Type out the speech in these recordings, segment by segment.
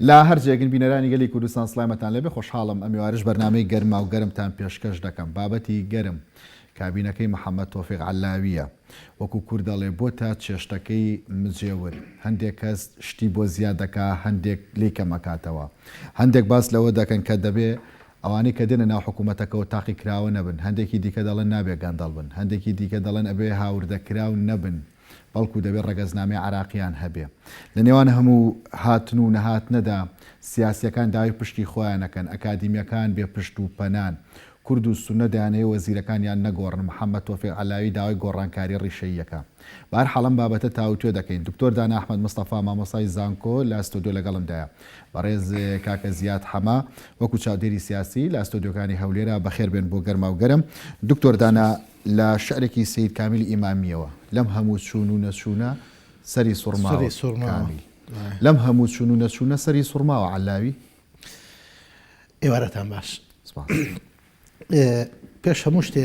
لە هەر جێگن بینەرانی گەلی کوردستان سلامەتان لەبێ خۆشحاڵم ئەمیوارش بەرنمەی گەرما و گەرمتان پێشکەش دەکەم بابەتی گەرم کابینەکەی محەممەد تۆفیق علاویە وەکو کوردەڵێ بۆ تا چێشتەکەی مجێور هەندێک کەس شتی بۆ زیاد دەکا هەندێک لی کەمەکاتەوە هەندێک باس لەوە دەکەن کە دەبێ ئەوانەی کە دێنە ناو حکوومەتەکەوە تاقیکراوە نەبن، هەندێکی دیکە دەڵێن نابێ گەندەڵ بن، هەندێکی دیکە دەڵێن ئەبێ هاوردەکراو نەبن، بەڵکوو دەبێ ڕەگەزنامەی عێراقییان هەبێ. لە نێوان هەموو هاتن و نەهاتنەدا سیاسییەکان داوای پشکی خۆیان ئەکەن، ئەکادیمییەکان بێ پشت و پەنان، کورد و سوننە دەیانەوێ وەزیرەکانیان نەگۆڕن، محەممەد تۆفیق عەلاوی داوای گۆڕانکارییە ڕیشەییەکان. بەهەرحاڵ ئەم بابەتە تاوتوێ دەکەین. دکتۆر دانا ئەحمەد مستەفا مامۆستای زانکۆ لە ستۆدیۆ لەگەڵمدایە. بەڕێز کاکە زیاد حەمە وەکو چاودێری سیاسی لە ستۆدیۆکانی هەولێرە بەخێربێن بۆ گەرماوگەرم. دکتۆر دانا لە شعرێکی سەید کامیلی ئیمامییەوە، لەم هەموو چوون و نەچوونە سەری سوڕماوە، کامیل، لەم هەموو چوون و نەچوونە سەری سوڕماوە، عەللاوی. ئێوارەتان باش. سپاس. پێش هەموو شتێ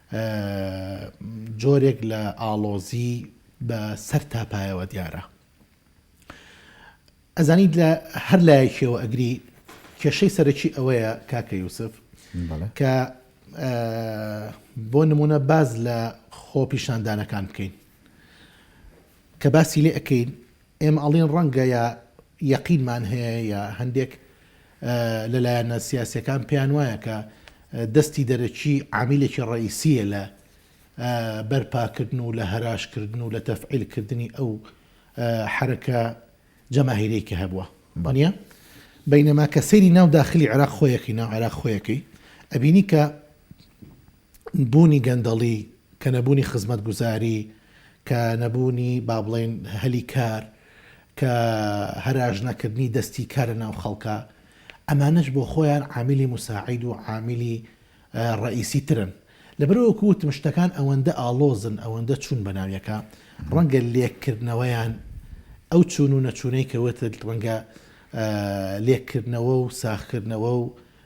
جۆرێک لە ئاڵۆزی بە سەر تا پایەوە دیارە. ئەزانیت لە هەر لایەکیەوە ئەگری کێشەی سەرەکی ئەوەیە کاکە یوسف کە بۆ نمونە باز لە خۆ پیشاندانەکان بکەین کە باسی لێ ئەەکەین ئێمە ئەڵێن ڕەنگە یا یەقینمان هەیە یا هەندێک لە لایەنە سیاسیەکان پێیان وایە کە دەستی دەرەکی عامیلێکی ڕئیسیە لە بەرپاکردن و لە هەراشکردن و لە تەفعیلکردنی ئەو حرەکە جەماهیرەی کە هەبووە بەە بینەما کە سەیری ناو داخلی عراق خۆیەکەی ناو عراق خۆیەکەی ئەبینی کە بوونی گەندەڵی، کە نەبوونی خزمەتگوزاری، کە نەبوونی با بڵێین هەلی کار، کە هەراجنەکردنی دەستی کار لە ناو خەڵکە، ئەمانەش بۆ خۆیان عاملی موساعید و عاملی ڕەئیسی ترن. لەبەرئەوە وەکو وتم شتەکان ئەوەندە ئاڵۆزن، ئەوەندە چوون بە ناو یەکا، ڕەنگە لێککردنەوەیان ئەو چوون و نەچوونەی کە وتت ڕەنگە لێککردنەوە و ساغکردنەوە و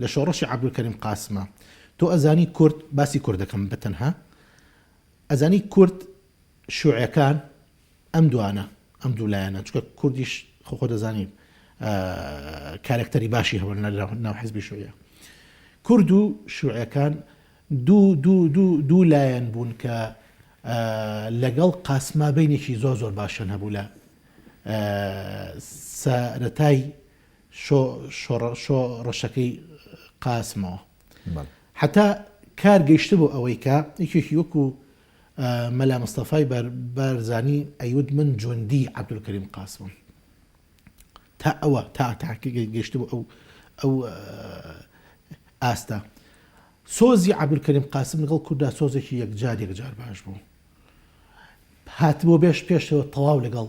لە شۆڕشی عەبدولکەریم قاسمە تۆ ئەزانی کورد باسی کورد دەکەم بە تەنها ئەزانی کورد شوعەکان ئەم دوانە ئەم دوو لایەنە چکە کوردیش خۆ دەزانین کارکتەری باشی هەوە ناو حزبی شوعە کورد و شوعەکان دوو لایەن بوون کە لەگەڵ قاسما بینێکی زۆر زۆر باشن هەبوو لە سەرەتای شۆ شۆ شۆ ڕەشەکەی قاسمەوە بەڵێ. حەتا کار گەیشتبوو ئەوەی کە یەکێکی وەکو مەلا مستەفای بار بارزانی ئەیوت من جوندی عەبدولکەریم قاسمم تا ئەوە تا تا گەیشتبوو ئەو ئەو ئاستە سۆزی عەبدولکەریم قاسم لەگەڵ کوردا سۆزێکی یەکجار یەکجار باش بوو هاتبوو بێش پێشەوە تەواو لەگەڵ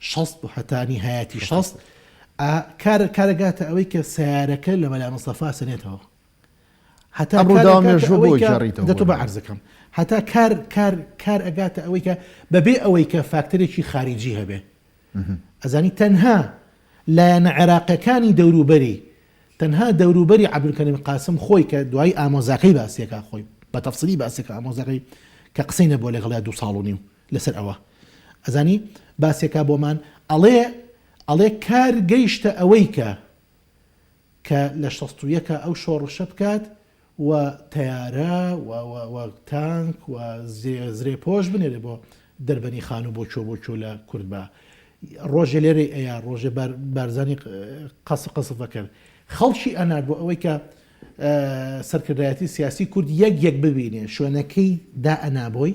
شەست بۆ هەتا نیهایەتی شەست ئا کارە کارە گاتە ئەوەی کە سەیارەکە لە مەلا مستەفا سەنێتەوە هەتا ئەم ڕووداوە کارەکە مێژووە بۆ ئەوەی کە گێڕیتەوە دەتوو بۆ بە عەرز ئەکەم هەتا کار کار کار ئەگاتە ئەوەی کە بەبێ ئەوەی کە فاکتەرێکی خاریجی هەبێ ئەزانی تەنها لایەنە عێراقیەکانی دەوروبەری تەنها دەوروبەری عەبدولکەریم قاسم خۆی کە دوایی ئامۆزاکەی باسیەکا خۆی بە تەفسیلی باسیەکە ئامۆزاکەی کە قسەی نەبووە لەگەڵیا دوو ساڵ و نیو لەسەر ئەوە ئەزانی باسێکا بۆمان ئەڵێ ئەڵێ کار گەیشتە ئەوەی کە کە لە شەست و یەکا ئەو شۆڕشە بکات و تەیارە و تانک و زرێ پۆش بنێرێ بۆ دەربەنی خان و بۆچۆ بۆچۆ لە کورد بە ڕۆژێ لێرە ئەیە ڕۆژێ بارزانانی قەس قەسف بەکرد خەڵکی ئەنار بۆ ئەوەی کە سەرکردایەتی سیاسی کورد یەک یەک ببینێ شوێنەکەی دا ئەنابۆی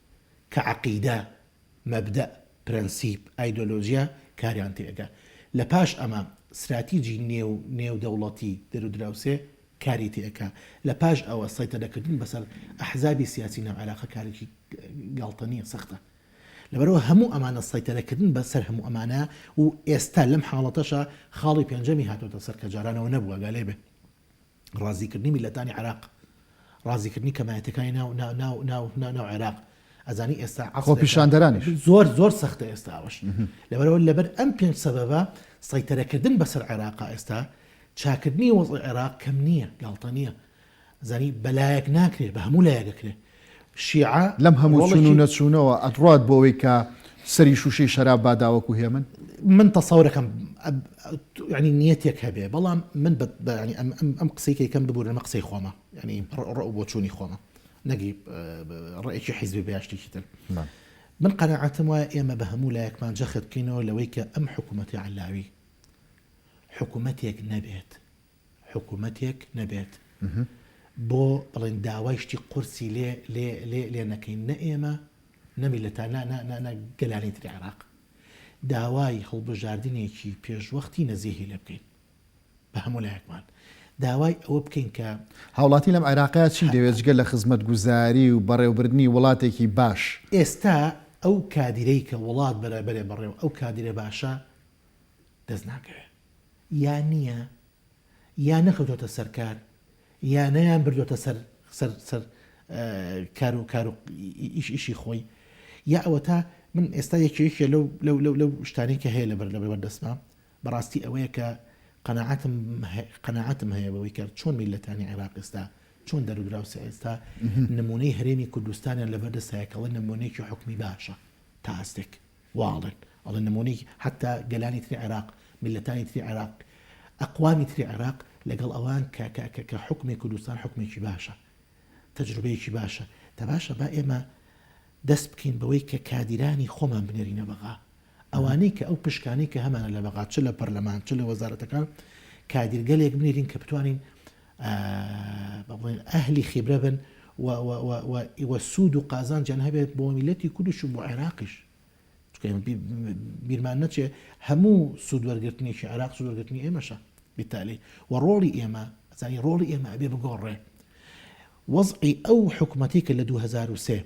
کە عەقیدە، مەبدەء، پرەنسیپ، ئایدۆلۆژیا کاریان تێکا. لە پاش ئەمە ستراتیجی نێو نێودەوڵەتی دەرودراوسێ کاری تێکا. لە پاش ئەوە سەیتەرەکردن بەسەر ئەحزابی سیاسی ناو عێراقە کارێکی گاڵتە نیە سەختە. لەبەرئەوە هەموو ئەمانە سەیتەرەکردن بە سەر هەموو ئەمانە و ئێستا لەم حاڵەتەشا خاڵی پێنجەمی هاتۆتە سەر کە جارانەوە نەبووە گا لێ بێ. ڕازیکردنی میللەتانی عێراق ڕازیکردنی کەمایەتەکانی ناو ناو ناو ناو عێراق ئەزانی ئێستا خۆپیشاندەرانیش زۆر زۆر سەختە ئێستاوەش لەبەرەوە لەبەر ئەم پێنج سەبەبە سەیتەرەکردن بەسەر عێراق ئێستا چاکردنی وەز عێراق کەم نییە گاڵتە نییە زانی بەلایەک ناکرێت بە هەموو لایەکەکرێت شیعە لەم هەموو چون و نەچونەوە ئەتڕوات بۆ ئەوەی کە سەری شوشەی شەراب با داوەکو هێمن؟ من تەسەورەکەم یانی نیەتێک هەبێ بەڵام من ئەم قسەی کە یکەم ببورن ئەمە قسەی خۆمە ینی ڕ و بۆچوونی خۆمە نەگی ڕێکی حیزبی بەیاشتێکی تر من قەنەعەتم وایە ئێمە بە هەموو لایەکمان جەخت بکەینەوە لەوەی کە ئەم حکوومەتی علاوی حکوومەتێک نەبێت حکومەتێک نەبێت بۆ بڵێن داوای شتی قورسی لێ لێ لێ لێ نەکەین نە ئێمە نە میلەتا نە نە نە نە گەلانی تری عێراق داوای هەڵبژاردنێکی پێشوەختی نەزیهی لێ بکەین بە هەموو لایەکمان داوای ئەوە بکەین کە هاوڵاتی لەم عێراقە چی دەوێت جگە لە خزمەتگوزاری و بەڕێوبردنی وڵاتێکی باش؟ ئێستا ئەو کادیرەی کە وڵات بەرێ بەرێ بەڕێ و ئەو کادیرە باشە دەست ناکەوێ. یا نییە یا نەکەوتۆتە سەر کار یا نەیان بردۆتە سەر سەر سەر کار و کار و ئیش ئیشی خۆی یا ئەوەتا من ئێستا یەکێ یەکێ لەو لەو لەو لەو شتانی کە هەیە لەبەر لەبەر بەردەستمە بەڕاستی ئەوەیە کە قەنەعاتم قەنەعاتم هەیە بەوەی کە چۆن میلەتانی عێراق ئێستا چۆن دەرودراوسە ئێستا نمونەی هەرێمی کوردستانیان لەبەردەستایەکەڵە نمونەیەکی حکومی باشە تا ئاستێک واڵێن ئەڵێن نمونەی حەتا گەلانی تری عێراق میللەتانی تری عێراق ئەقوامی تری عێراق لەگەڵ ئەوان کە کە کە کە حوکمی کوردستان حوکمێکی باشە تەجروبەیەکی باشە دە باشە با ئێمە دەست بکەین بەوەی کە کادیرانی خۆمان بنێرینە بەغا ئەوانەی کە ئەو پشکانەی کە هەمانە لە بەغا چ لە پەرلەمان چ لە وەزارەتەکان کادیرگەلێک بنێرین کە بتوانین بڵێن ئەهلی خیبرە بن و و سوود و قازانجیان هەبێت بۆ میلەتی کوردش و بۆ عێراقیش بیرمان نەچێ هەموو سوود وەرگرتنیشی عراق سوورگرتنی ئێمەشە بیتالی و ڕۆڵی ئێمە ئەزانی ڕۆڵی ئێمە ئەبێ بگۆڕێ وەزعی ئەو حکوومەتی کە لە 2023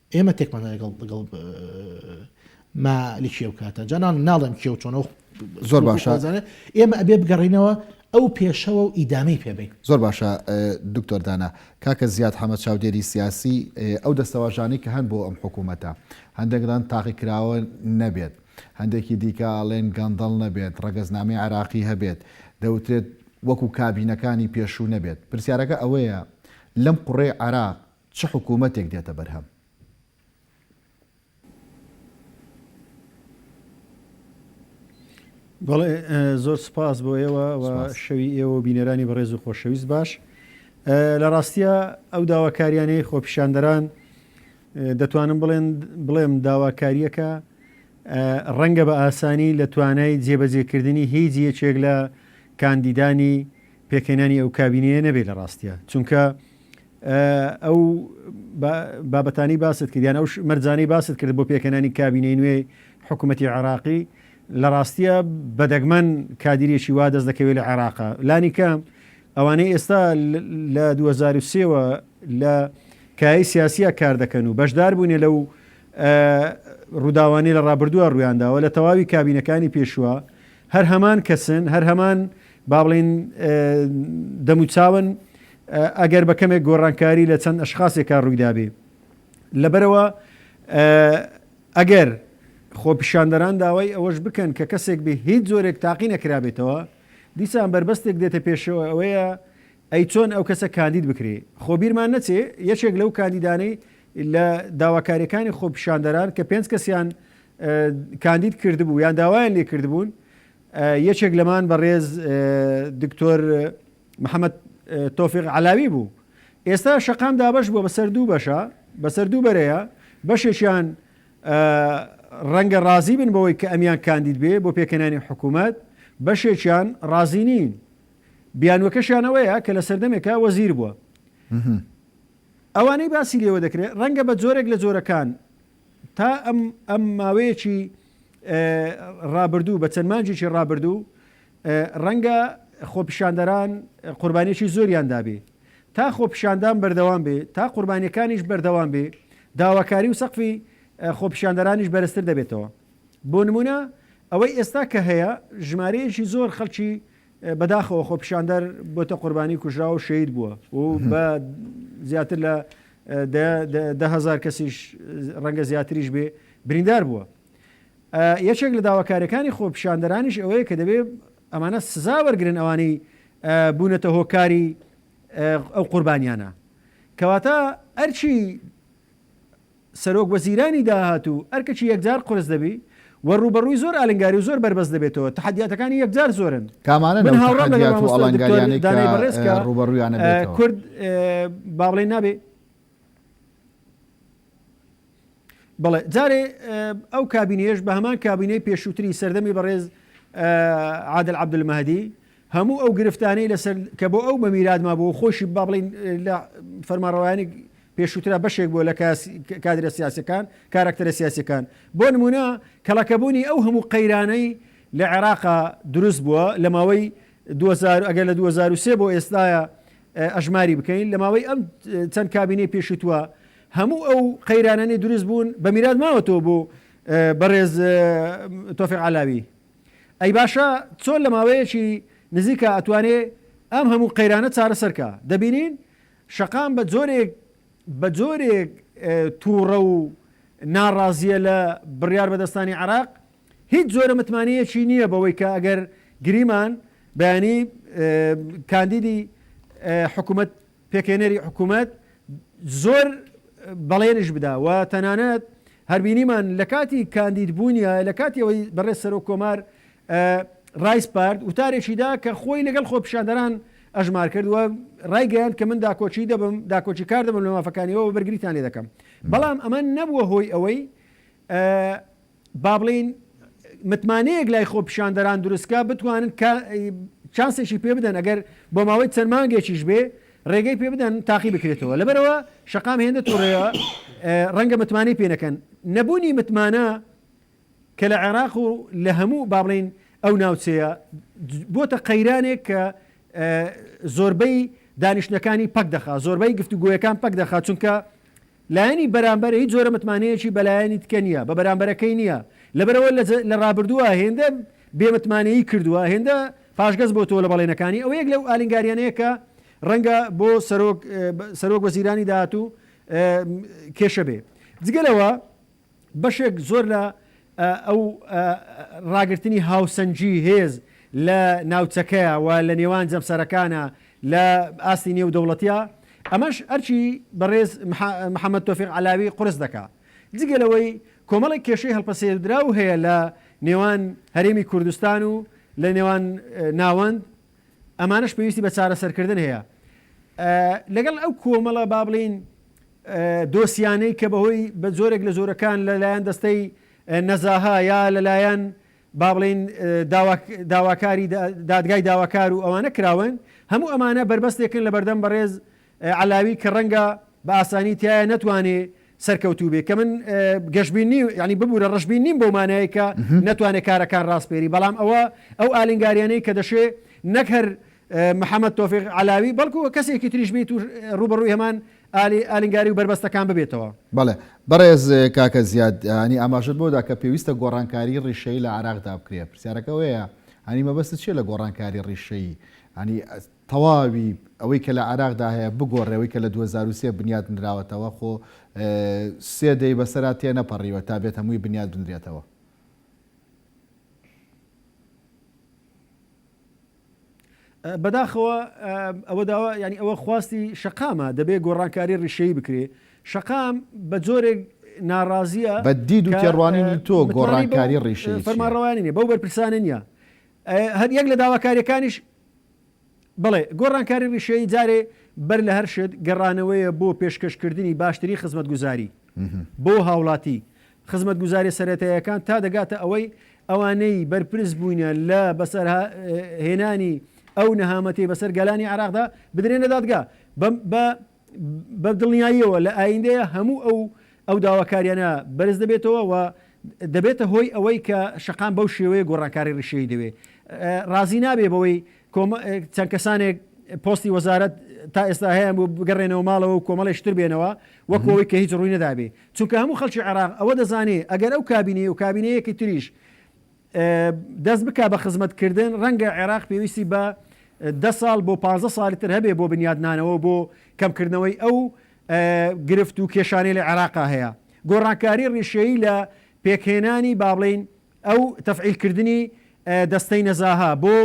ئێمە تێکمان دا لەگەڵ لەگەڵ ما لکی ئەو کاتە جا نان ناڵێم کێ و چۆنەوە زۆر باشە ئێمە ئەبێ بگەڕینەوە ئەو پێشەوە و ئیدامی پێبین زۆر باشە دکتۆر دانا کاکە زیاد حەمە چاودێری سیاسی ئەو دەستەواژانی کە هەن بۆ ئەم حکوومەتە هەندێکدان تاقی کراوە نەبێت هەندێکی دیکە ئاڵێن گەندەڵ نەبێت ڕگەزنامی عراقی هەبێت دەوترێت وەکو کابینەکانی پێشوو نەبێت پرسیارەکە ئەوەیە لەم قڕێ عراق چ حکوومەتێک دێتە بەرهەم؟ بەڵێ زۆر سپاس بۆ ئێوە و شەوی ئێوە و بینەرانی بەڕێز و خۆشەویست باش لە ڕاستیە ئەو داواکاریانەی خۆپیشاندەران دەتوانم بڵێن بڵێم داواکاریەکە ڕەنگە بە ئاسانی لە توانای جێبەجێکردنی هیچ یەکێک لە کاندیدانی پێکەێنانی ئەو کابینەیە نەبێت لە ڕاستیە چونکە ئەو بابەتانەی باست کرد یان ئەو مەرجانەی باست کرد بۆ پێکەنانی کابینەی نوێی حکوومەتی عێراقی لە ڕاستیە بەدەگمەن کادیرێکی وا دەست دەکەوێت لە عێراقا لانی کەم ئەوانەی ئێستا لە 2023ەوە لە کای سیاسیە کار دەکەن و بەشدار بوونێ لەو ڕووداوانی لە ڕابردووە ڕویانداوە لە تەواوی کابینەکانی پێشوە هەر هەمان کەسن هەر هەمان با بڵین دەموچاون ئەگەر بە کەمێک گۆڕانکاری لە چەند ئەشخاسێکا ڕوویدابێ. لەبەرئەوە ئەگەر خۆپیشاندەران داوای ئەوەش بکەن کە کەسێک بێ هیچ جۆرێک تاقی نەکرابێتەوە، دیسان بەربەستێک دێتە پێشەوە ئەوەیە ئەی چۆن ئەو کەسە کاندید بکرێ؟ خۆ بیرمان نەچێ یەکێک لەو کاندیدانەی لە داواکارییەکانی خۆپیشاندەران کە پێنج کەسیان کاندید کردبوو یان داوایان لێکردبوون یەکێک لەمان بەڕێز دکتۆر محەمەد تۆفیق عەلاوی بوو، ئێستا شەقام دابەش بووە بەسەر دوو بەشە، بەسەر دوو بەرەیە، بەشێکیان رەنگە رازی بن بەوەی کە ئەمیان کاندید بێ بۆ پێکهێنانی حکوومەت، بەشێکیان رازی نین، بیانووەکەشیان ئەوەیە کە لە سەردەمێکا وەزیر بووە. ئەوانەی باسی لێوە دەکرێ رەنگە بە جۆرێک لە جۆرەکان تا ئەم ماوەیەکی رابردوو بە چەند مانجێکی رابردوو ڕەنگە خۆپیشاندەران قوربانیەکی زۆریان دابێ تا خۆپیشاندان بەردەوام بێ تا قوربانیەکانیش بەردەوام بێ داواکاری و سەقفی خۆپیشاندەرانیش بەرزتر دەبێتەوە بۆ نمونە ئەوەی ئێستا کە هەیە ژمارەیەکی زۆر خەڵکی بەداخەوە خۆپیشاندەر بۆتە قوربانی کوژراوە و شەید بووە و بە زیاتر لە دههزار کەسیش ڕەنگە زیاتریش بێ بریندار بووە یەکێک لە داواکاریەکانی خۆپیشاندەرانیش ئەوەیە کە دەبێت ئەمانە سزا وەرگرن ئەوانەی بوونەتە هۆکاری ئەو قوربانیانە کەواتە ئەرچی سەرۆک وەزیرانی داهات و ئەرکەکی یەکجار قرس دەبی و ڕوبەڕووی زۆر ئالنگاری و زۆر بەربەست دەبێتەوە تحدیاتەکانی یەکجار زۆرن کامانە من هاوڕام لەگەڵ ئەڵنگاریانی دانای بەڕێز کە ڕوبەڕویانە کورد باڵێ نابێ بەڵێ جارێ ئەو کابینەیەش بە هەمان کابینەی پێشووتری سەردەمی بەڕێز عادل عبدمەدی هەموو ئەو گرفتانەی لەسەر کە بۆ ئەو بە میرادما بۆ خۆشی با بڵین لە فەرماڕەوانی پێشووترا بەشێک بووە لە کادرە سیاسەکان کارکتەرە سیاسەکان بۆ نمونە کەڵەکەبوونی ئەو هەموو قەیرانەی لە عێراقا دروست بووە لە ماوەی 2000 ئەگەر لە 2023 بۆ ئێستاە ئەژماری بکەین لە ماوەی ئەم چەند کابینەی پێشوتووە هەموو ئەو قەیرانانەی دروست بوون بە میرات ماوەتەوە بۆ بەڕێز تۆفیق عەلاوی ئەی باشە چۆن لە ماوەیەکی نزیکە ئەتوانێ ئەم هەموو قەیرانە چارەسەرکە دەبینین شەقام بە جۆرێک بە جۆرێک تووڕە و ناڕازیە لە بڕیار بەدەستانی عراق هیچ جۆرە متمانەیەکی نییە بەوەی کە ئەگەر گریمان بەیانی کاندیدی حکوومەت پێکهێنەری حکومەت زۆر بەڵێنیش بدا و تەنانەت هەر بینیمان لە کاتی کاندید بوونیا لە کاتی ئەوەی بەڕێز سەرۆک کۆمار ڕایسپارد وتارێکی دا کە خۆی لەگەڵ خۆپیشاندەران ئەژمار کرد و ڕایگەیاند کە من داکۆچی دەبم داکۆچی کار دەبم لە مافەکانیەوە بەرگریتان لێ دەکەم بەڵام ئەمە نەبووە هۆی ئەوەی با بڵێین متمانەیەک لای خۆپیشاندەران دروست بکات بتوانن چانسێکی پێ بدەن ئەگەر بۆ ماوەی چەند مانگێکیش بێ ڕێگەی پێ بدەن تاقی بکرێتەوە لەبەرەوە شقام هێندە توڕەیە ڕەنگە متمانەی پێ نەکەن نەبوونی متمانە کە لە عێراق و لە هەموو با بڵین ئەو ناوچەیە بۆتە قەیرانێک کە زۆربەی دانیشتەکانی پەک دەخا زۆربەی گفتوگویەکان پەک دەخا چونکە لایەنی بەرامبەر هیچ جۆرە متمانەیەکی بە لایەنی تکە نییە، بە بەرامبەرەکەی نییە، لەبەرئەوە لە رابردووە هێندە بێ متمانەیی کردووە، هێندە پاشگەز بۆتەوە لە بەڵێنەکانی، ئەوە یەک لەو ئالنگاریانەیە کە رەنگە بۆ سەرۆک سەرۆک وەزیرانی داهاتوو کێشە بێ. جگە لەوە. بەشێک زۆر لە ئەو ڕاگرتنی هاوسەنگی هێز لە ناوچەکەیە و لە نێوان جەمسەرەکانە لە ئاستی نێودەوڵەتییە، ئەمەش ئەرکی بەڕێز محەمەد تۆفیق عەلاوی قورس دەکا. جگە لەوەی کۆمەڵێک کێشەی هەڵپەسێردراو هەیە لە نێوان هەرێمی کوردستان و لە نێوان ناوەند، ئەمانەش پێویستی بە چارەسەرکردن هەیە لەگەڵ ئەو کۆمەڵە با بڵین دۆسیانەی کە بەهۆی بە جۆرێک لە جۆرەکان لەلایەن دەستەی نەزاها یا لەلایەن با بڵین داواکاری دادگای داواکار و ئەوانە کراون هەموو ئەمانە بربەستێکن لە بەردەم بەڕێز علاوی کە ڕەنگە بە ئاسانی تیایا نەتوانێ سەرکەوتوو بێ کە من گەشبین نیم یعنی ببورە ڕەشبین نیم بەو مانایەی کە نەتوانێ کارەکان ڕاسپێری بەڵام ئەوە ئەو ئالنگاریانەی کە دەشێ نەک هەر محەممەد تۆفیق علاوی بەڵکو کەسێکی تریش بیت و ڕوبەڕووی هەمان ئالی ئالنگاری و بەربەستەکان ببێتەوە بەڵێ بەڕێز کاکە زیاد هەنی ئاماژت بۆدا کە پێویستە گۆڕانکاری ڕیشەی لە عراقدا بکرێت پرسیارەکە وەیە هەنی مەبەست چیە لە گۆڕانکاری ڕیشەی هەنی تەواوی ئەوەی کە لە عێراقدا هەیە بگۆڕێ ئەوەی کە لە دوو هەزار و سێ بنیات نراوەتەوە خۆ سێ دەی بەسەرا تێنەپەڕیوە تا بێت هەمووی بنیات بنرێتەوە. بەداخەوە ئەوە داوا یانی ئەوە خواستی شەقامە دەبێ گۆڕانکاری ڕیشەیی بکرێ شەقام بە جۆرێک ناڕازیە بە دید و تێڕوانینی تۆ گۆڕانکاری ڕیشەی فەرمانڕەوانی نیە بەو بەرپرسانە نیە هەر یەک لە داواکاریەکانیش بەڵێ، گۆڕانکاری ڕیشەیی جارێ بەر لە هەر شت گەڕانەوەیە بۆ پێشکەشکردنی باشترین خزمەتگوزاری بۆ هاوڵاتی، خزمەتگوزاریە سەرەتاییەکان تا دەگاتە ئەوەی ئەوانەی بەرپرس بووینە لە بەسەرهێنانی ئەو نەهامەتیەی بەسەر گەلانی عێراقدا بدرێنە دادگا بە بە دڵنیاییەوە لە ئایندەیە هەموو ئەو ئەو داواکاریانە بەرز دەبێتەوە و دەبێتە هۆی ئەوەی کە شەقام بەو شێوەیە گۆڕانکاری ڕیشەی دەوێ ڕازی نابێ بەوەی چەند کەسانێک پۆستی وەزارەت تا ئێستا هەیە بۆ بگەڕێنەوە ماڵەوە و کۆمەڵێشتر بێنەوە وەکەوەی کە هیچ ڕووی نەدابێ چونکە هەموو خەڵکی عێراق ئەوە دەزانێ ئەگەر ئەو کابینەیە و کابینەیەکی تریش دەست بکا بە خزمەت کردن، ڕەنگە عێراق پێویستی بە دە ساڵ بۆ پازدە ساڵی تر هەبێ بۆ بنیادنانەوە بۆ کەم کردنەوەی ئەو گرفت و کێشانەی لە عێراقا هەیە. گۆڕانکاری ڕیشەیی لە پێکهێنانی با بڵێین ئەو تەفعیل کردنی دەستەی نەزاهە بۆ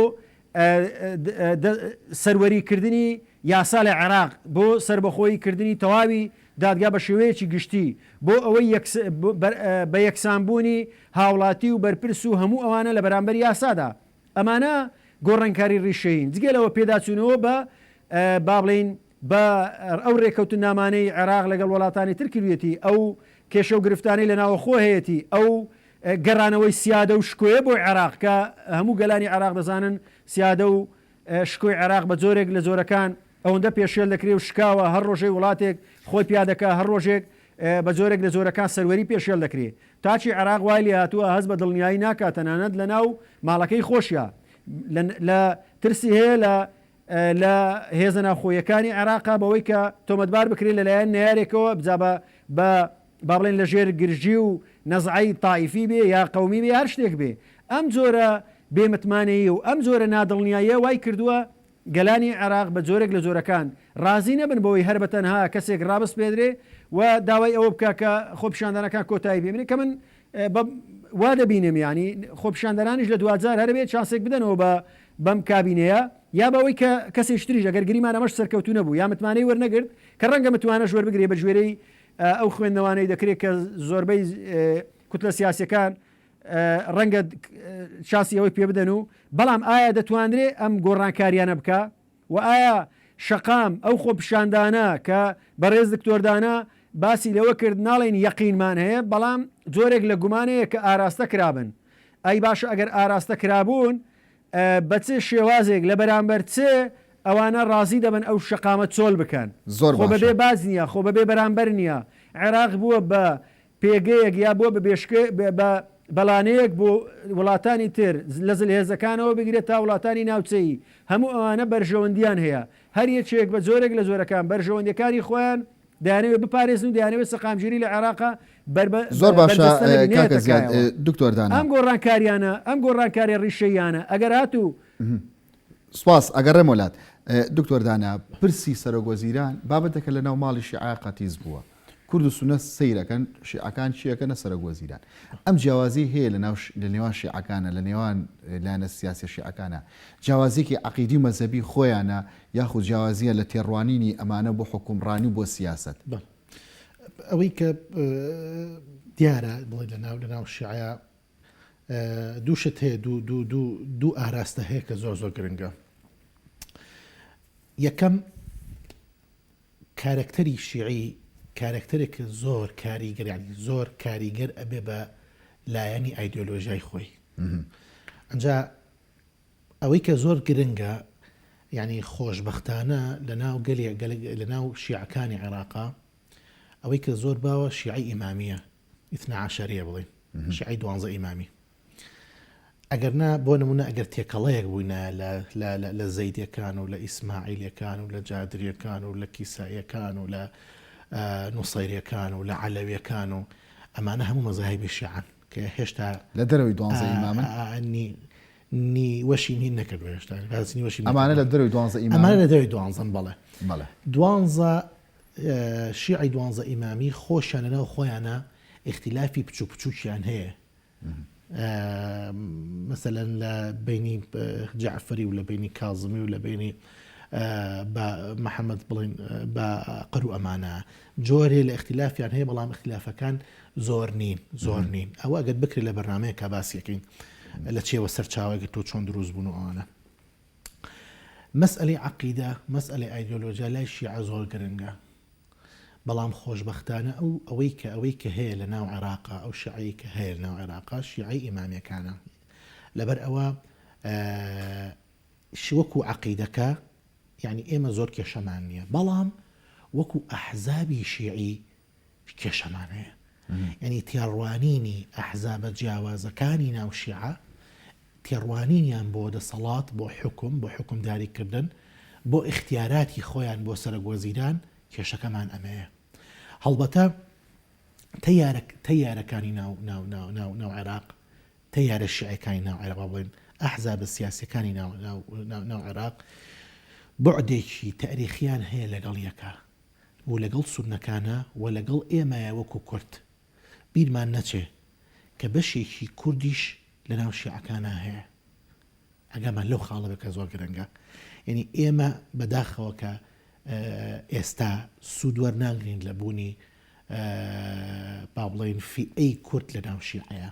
سەروەری کردنی یاسا لە عێراق، بۆ سەربەخۆیی کردنی تەواوی دادگا بە شێوەیەکی گشتی، بۆ ئەوەی بە یەکسان بوونی هاوڵاتی و بەرپرس و هەموو ئەوانە لە بەرامبەر یاسادا. ئەمانە گۆڕانکاری ڕیشەیین. جگە لەوە پێداچوونەوە بە با بڵێین بە ئەو رێکەوتننامانەی عێراق لەگەڵ وەلاتانی تر کردویەتی، ئەو کێشە و گرفتانەی لە ناوەخۆ هەیەتی، ئەو گەرانەوەی سیادە و شکۆیە بۆی عێراق کە هەموو گەلانی عێراق دەزانن سیادە و شکۆی عێراق بە جۆرێک لە جۆرەکان ئەوەندە پێشێل دەکرێ و شکاوە هەر رۆژەی وڵاتێک خۆی پیا دەکا هەر رۆژێک بە جۆرێک لە جۆرەکان سەروەری پێشێل دەکرێ تاچی عێراق وای لێ هاتووە هەست بە دڵنیایی ناکا تەنانەت لە ناو ماڵەکەی خۆشیا لە ترسی هەیە لە لە هێزە ناوخۆییەکانی عێراقە بەوەی کە تۆمەتبار بکرێت لە لایەن نەیارێکەوە جا بە بە با بڵێن لە ژێر گرژی و نەزعەی تائیفی بێ یا قەومی بێ هەر شتێک بێ ئەم جۆرە بێ متمانەیی و ئەم جۆرە نادڵنیاییە وای کردووە گەلانی عێراق بە جۆرێک لە جۆرەکان ڕازی نەبن بەوەی هەر بە تەنها کەسێک ڕابسپێدرێ و داوای ئەوە بکا کە خۆپیشاندانەکان کۆتایی پێ بێنێ کە من بە وا دەبینم یانی خۆپیشاندەرانیش لە دواجار هەرەبێ چانسێک بدەنەوە بە بەم کابینەیە یا بەوەی کە کەسێکی تریش ئەگەر گریمان ئەمەش سەرکەوتوو نەبوو یا متمانەی وەرنەگرت کە ڕەنگە متمانەش وەربگرێ بە گوێرەی ئەو خوێندنەوانەی دەکرێت کە زۆربەی کوتلە سیاسەکان ڕەنگە چاسی ئەوەی پێ بدەن و بەڵام ئایا دەتوانرێ ئەم گۆڕانکاریانە بکە و ئایا شەقام ئەو خۆپیشاندانە کە بەڕێز دکتۆر دانا باسی لەوە کرد ناڵێین یەقینمان هەیە بەڵام جۆرێک لە گومان هەیە کە ئاراستە کرابن ئەی باشە ئەگەر ئاراستە کرابوون بە چ شێوازێک لە بەرامبەر چ ئەوانە ڕازی دەبن ئەو شەقامە چۆل بکەن زۆر خۆ باشە. بەبێ باج نییە خۆ بەبێ بەرامبەر نییە عێراق بووە بە پێگەیەک یا بۆ بە بەڵانەیەک بۆ وڵاتانی تر لە زلهێزەکانەوە بگرە تا وڵاتانی ناوچەیی هەموو ئەوانە بەرژەوەندیان هەیە هەر یەکێک بە جۆرێک لە جۆرەکان بەرژەوەندیەکانی خۆیان دەیانەوێت بپارێزن و دەیانەوێت سەقامگیری لە عێراقا زۆر باشە کاکە زیاد دکتۆر دانا. ئەم گۆڕانکاریانە ئەم گۆڕانکاریە ڕیشەییانە ئەگەر هاتوو سپاس ئەگەڕێم وەلات دکتۆر دانا پرسی سەرۆک وەزیران بابەتەکە لە ناو ماڵیشی عێراقا تیز بووە کورد و سونە سەیرەکەن شیعەکان چیەکەنە سەرۆک وەزیران ئەم جیاوازیەی هەیە لەناو لەنێوان شیعەکانە لەنێوان لایەنە سیاسیە شیعەکانە جیاوازیەکی عەقیدی و مەزەبی خۆیانە یاخود جیاوازیە لە تێڕوانینی ئەمانە بۆ حوکمڕانی و بۆ سیاسەت. بەڵێ ئەوەی کە دیارە بڵێ لەناو لەناو شیعە دوو شت هەیە دوو دوو دوو دوو ئاراستە هەیە کە زۆر زۆر گرنگە یەکەم کارەکتەری شیعی کارەکتەرێکە زۆر کاریگەر یانی زۆر کاریگەر ئەبێ بە لایەنی ئایدۆلۆژای خۆی ئەجا ئەوەی کە زۆر گرنگە یعنی خۆشببختانە لە ناو گەلێ لە ناو شیعەکانی عێراقا ئەوەی کە زۆر باوە شیعی ئیمامیە ئیتناعاشاریە بڵێ شیعی دوانزە ئیمامی ئەگەر نا بۆ نمونە ئەگەر تێکەڵەیەک بووینایە لە زەیدەکان و لە ئیسماعیلەکان و لە جادریەکان و لە کیساییەکان و لە نووسەیرەکان و لە عەلەویەکان و ئەمانە هەموو مەزاهبی شیعان کە هێشتا لە دەرەوەی دوانزە ئیمامن نیوەشی نین نەکرد هێشتا بەزنی وەشی ئەمانە لە دەروی دوانزە ئیمانە لە دەوی دوانزم بەڵێ بەڵێ دوانزە شیعی دوانزە ئیمامی خۆشیان لەناو خۆیانە ئختیلافی بچوو بچووکیان هەیە مەسەلەن لە بەینی جەعفەری و لە بەینی کازمی و لە بەینی بە محەممەد بڵین بە قەرو ئەمانە جۆرێ لە اختلافیان هەیە بەڵام اختلافەکان زۆر نین زۆر نین ئەوە گەت بکرێت لە بەرنمەیە کا باسیەکەین لە چێوە سەرچاوەگە تۆ چۆن دروست بوون و ئەوانە مەسئەلەی عەقیدە، مەسئەلەی ئایدۆلۆجیا لای شیعە زۆر گرنگە. بەڵام خۆشبەختانە ئەو ئەوەی کە ئەوەی کە هەیە لە ناو عێراقا، ئەو شیعەی کە هەیە لە ناو عێراقا شیعەی ئیمامیەکانە. لەبەر ئەوە ش وەکوو عەقیدەکە یانی ئێمە زۆر کێشەمان نییە. بەڵام وەکوو ئەحزابی شیعی کێشەمان هەیە یانی تێڕوانینی ئەحزابە جیاوازەکانی ناو شیعە تێڕوانینیان بۆ دەسەڵات بۆ حکوم بۆ حکومداریکردن بۆ ئیختیاراتی خۆیان بۆ سەرەک وەزیران کێشەکەمان ئەمەیە هەڵبەتە تەیارەک تەیارەکانی ناو ناو ناو ناو ناو عێراق تەیارە شعەکانی ناو عێراق بڵێن ئەحزابە سیاسەکانی ناو ناو عێراق بعدێکی تاریخیان هەیە لەگەڵ یەکە و لەگەڵ سوننەکانە و لەگەڵ ئێمەیە وەکو کورد بیرمان نەچێ کە بەشێکی کوردیش لەناو شیعەکانا هەیە ئەگەرمان لەو خاڵە بێ کە زۆر گرنگە یەنی ئێمە بەداخەوە کە ئێستا سوود وەرناگرین لە بوونی با بڵێین فیئەی کورد لەناو شیعەیە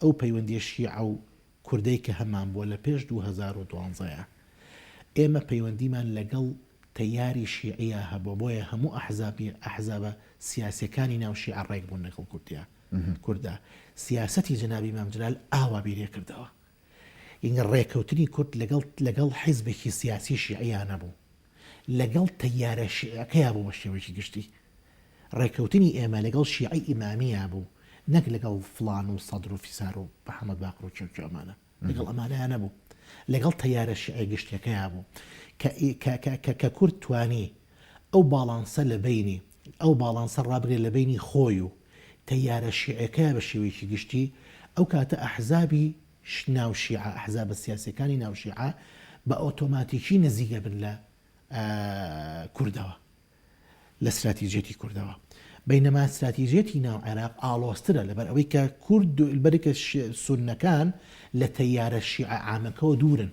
ئەو پەیوەندیە شیعە و کوردەی کە هەمان بووە لە پێش دوو هەزار و دوازدە ئێمە پەیوەندیمان لەگەڵ تەیاری شیعیە هەبووە بۆیە هەموو ئەحزابی ئەحزابە سیاسیەکانی ناو شیعە ڕێک بوون لەگەڵ کوردیا کوردا سیاسەتی جەنابی مام جلال ئاوا بیرێ کردەوە ینگە ڕێکەوتنی کورد لەگەڵ لەگەڵ حیزبێکی سیاسی شیعیانە بوو لەگەڵ تەیارە شیعیەکەیا بوو بە شێوەیەکی گشتی ڕێکەوتنی ئێمە لەگەڵ شیعەی ئیمامییا بوو نەک لەگەڵ فڵان و سەدر و فیسار و محەمەد باقر و کێ و کێ و ئەمانە لەگەڵ ئەمانەیا نەبوو لەگەڵ تەیارە شیعە گشتیەکەیا بوو کە ئی کە کە کە کە کورد توانی ئەو باڵانسە لە بەینی ئەو باڵانسە ڕابگرێ لە بەینی خۆی و تەیارە شیعەکەیا بە شێوەیەکی گشتی ئەو کاتە ئەحزابی ناو شیعە، ئەحزابە سیاسیەکانی ناو شیعە بە ئۆتۆماتیکی نزیک ئەبن لە کوردەوە لە ستراتیجێتی کوردەوە بینەما ستراتیجێتی ناو عێراق ئاڵۆسترە لەبەر ئەوەی کە کورد بەرکە سونەکان لە تەیارە شیعە ئامەکەەوە دوورن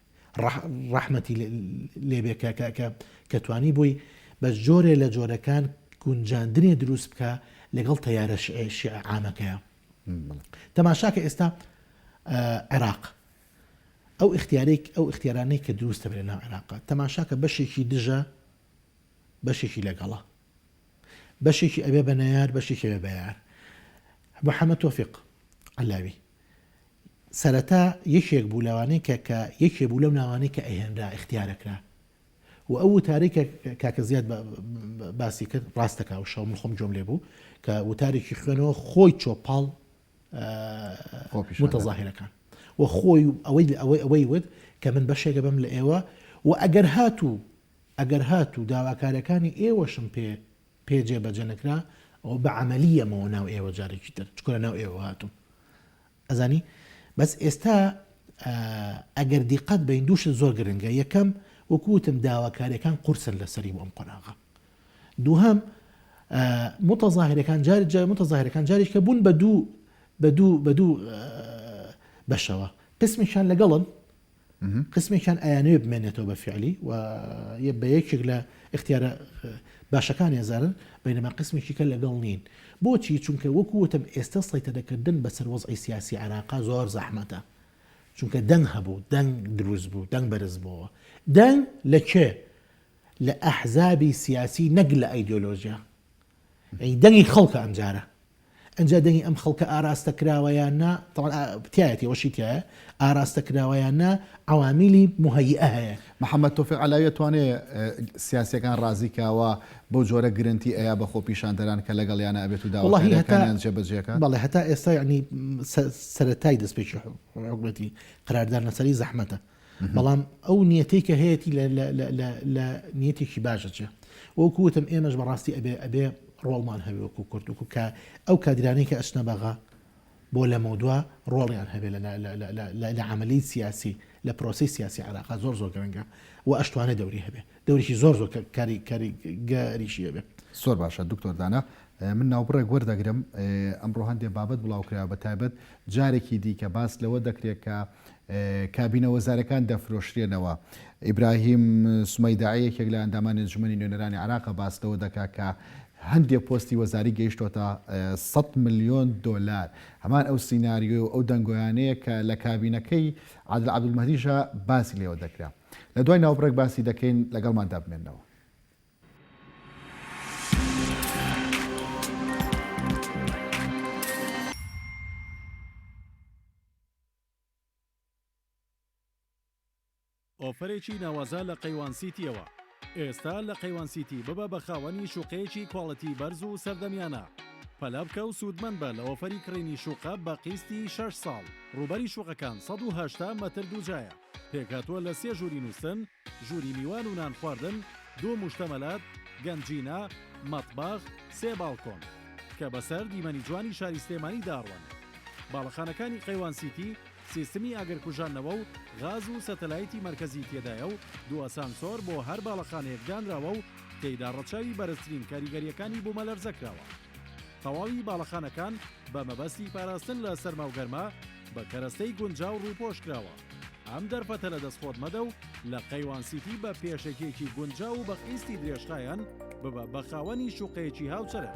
ڕەحمەتی لێبێ کە کە کە کە توانی بووی بە جۆرێ لە جۆرەکان گونجاندنێ دروست بکە لەگەڵ تەیارە شعامەکەیە تەماشاکە ئێستا عێراق ئەو اختیارێک ئەو اختیارانەی کە دروستە بێنە عێراق تەماشاکە بەشێکی دژە بەشێکی لەگەڵە بەشێکی ئەبێ بە نەیار بەشێکی ئەبێ بە یار محەمەد تۆفیق عەلاوی سەرەتا یەکێک بوو لەوانەی کە کە یەکێ بوو لەو ناوانەی کە ئەهێنرا اختیارەکرا و ئەو وتاری کە کاکە زیاد باسی کرد ڕاستەکە و شەو خۆم جۆم لێ بوو کە وتارێکی خوێنەوە خۆی چۆپاڵ متەظاهرەکان و خۆی ئەوەی ئەوەی ئەوەی وت کە من بەشێکە بم لە ئێوە و ئەگەر هاتوو ئەگەر هاتوو داواکاریەکانی ئێوەشم پێ پێ جێ بەجێ نەکرا ئەوە بە عەمەلی یەمەوە ناو ئێوە جارێکی تر چکۆ لە ناو ئێوە هاتووم ئەزانی بەس ئێستا ئەگەر دیقەت بین دووشت زۆر گرنگە یەکەم وەکوتم داواکاریەکان قورسن لەسەری بۆم قۆناغە دووهم متەظاهرەکان جاری جای متەظاهرەکان جاریش کە بوون بە دوو بە دوو بە دوو بەشەوە قسمیشان لەگەڵن قسمێکیان ئەیانەوێت بمێنێتەوە بە فیعلی و بە یەکێک لە ئختیارە باشەکان ێزارن بینەما قسمێکی کە لەگەڵ نین بۆچی چونکە وەکو وتم ئێستا سەیتەدەکردن بەسەر وەزعی سیاسی عراقا زۆر زەحمەتە چونکە دەنگ هەبوو دەنگ دروست بوو دەنگ بەرز بووەوە دەنگ لە کێ لە ئەحزابی سیاسی نەک لە ئایدۆلۆژیا یەعنی دەنگی خەڵکە ئەمجارە ئەنجا دەنگی ئەم خەڵکە ئاراستە کراوە یان نا تەبعەن ئا تیایەتی ئەوەشی تیایە ئاراستە کراوە یان نا عەوامیلی موهەییئە هەیە. محەمەد تۆفیق عەلاوی ئەتوانێ سیاسیەکان رازی کا وا بەو جۆرە گرنتی ئەیا بە خۆپیشاندەران کە لەگەڵیانا ئەبێت و وەڵاهی هەتا داواکاریەکانیان جێ بە جێ کات؟ بەڵێ هەتا ئێستا یەعنی سە سەرەتای دەستپێکی حکومەتی قەرار دان لەسەری زەحمەتە بەڵام ئەو نیەتەی کە هەیەی لە نیەتێکی باشە چێ وەکو وتم ئێمەش بەڕاستی ئەبێ ئەبێ ڕۆڵمان هەوێ وەکو کورد وکو کە ئەو کادرانی کە ئەچنە بەغا بۆ لە مەودوا ڕۆڵیان هەبێ لە عملی سیاسی لە پرۆسی سیاسی عراقا زۆر زۆر گرنگە و ئەشتوانە دەوری هەبێ دەوریی زۆر زۆر کاری کاری گەریشی هەبێ زۆر باشە دکتۆردانە من ناوبڕێک وەردەگرم ئەمڕۆ هەندێک بابەت بڵاوکرا بە تایبەت جارێکی دیکە باس لەوە دەکرێت کە کابینە وەزارەکان دەفرۆشرێنەوە. ئیبراهیم سومەیداعی یەکێک لە ئەندامانی ئەنجومەنی نوێنەرانی عێراق باس لەوە دەکات کە هەندێک پۆستی وەزاری گەیشتۆتە سەد ملیۆن دۆلار هەمان ئەو سیناریۆ و ئەو دەنگۆیانەیە کە لە کابینەکەی عادل عەبدولمەهدیشە باسی لێوە دەکرا لە دوای ناوبڕێک باسی دەکەین لەگەڵمان دابمێنەوە ئۆفەرێکی ناوازە لە قەیوان سیتیەوە. ئێستا لە قەیوان سیتی ببە بە خاوەنی شوقەیەکی کواڵیتی بەرز و سەردەمیانە. پەلە بکە و سوودمەند بە لە ئۆفەری کڕینی شوقە بە قیستی شەش ساڵ. رووبەری شوقەکان سەد و هەشتا مەتر دووجایە. پێکهاتووە لە سێ ژووری نووستن، ژووری میوان و نان خواردن، دوو موشتەمەلات، گەنجینە، مەتبەخ، سێ باڵکۆن. کە بە سەر دیمەنی جوانی شاری سلێمانی داڕوانن. باڵەخانەکانی قەیوان سیتی، سیستمی ئاگر کوژاندنەوە و غاز و سەتەلایتی مەرکەزی تێدایە و دوو ئەسانسۆر بۆ هەر باڵەخانەیەک دانراوە و تێیدا ڕەچاوی بەرزترین کاریگەرییەکانی بوومەلەرزە کراوە. تەواوی باڵەخانەکان بە مەبەستی پاراستن لە سەرما و گەرما بە کەرەستەی گونجاو ڕووپۆش کراوە. ئەم دەرفەتە لە دەست خۆت مەدە و لە قەیوان سیتی بە پێشەکییەکی گونجاو و بە قیستی درێژخایەن ببە بە خاوەنی شوقەیەکی هاوچەرخ.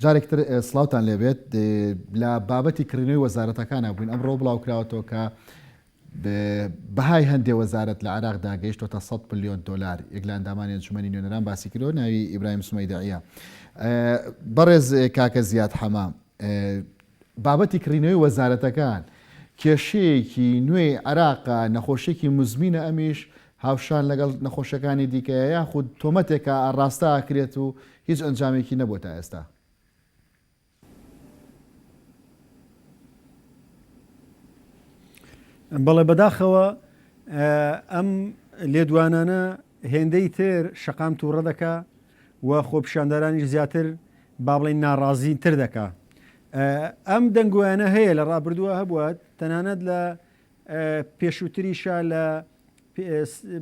جارێک تر سڵاوتان لێبێت لە بابەتی کڕینەوەی وەزارەتەکانە بووین ئەمڕۆ بڵاوکراوەتەوە کە بەهای هەندێ وەزارەت لە عراق داگەیشتۆتە 100 پلیۆن دلار یەک لە ئەندامانی ئەنجومەنی نوێنەران باسی کرۆ ناوی ئیبراهیم سمەیدعە بەڕێز کاکە زیاد حەما بابەتی کڕینەوەی وەزارەتەکان کێشەیەکی نوێی عراق نەخۆشیێکی مزمینە ئەمیش هاوشان لەگەڵ نەخۆشیەکانی دیکەیە یاخود تۆمەتێکە ئاڕاستە ئەکرێت و هیچ ئەنجامێکی نەبووە تا ئێستا؟ بەڵێ بەداخەوە ئەم لێدوانانە هێندەی تر شەقام تووڕە دەکا و خۆپیشاندەرانیش زیاتر با بڵێن ناڕازین تر دەکا ئەم دەنگویانە هەیە لە ڕابردووە هەبووە تەنانەت لە پێشووتریشە لە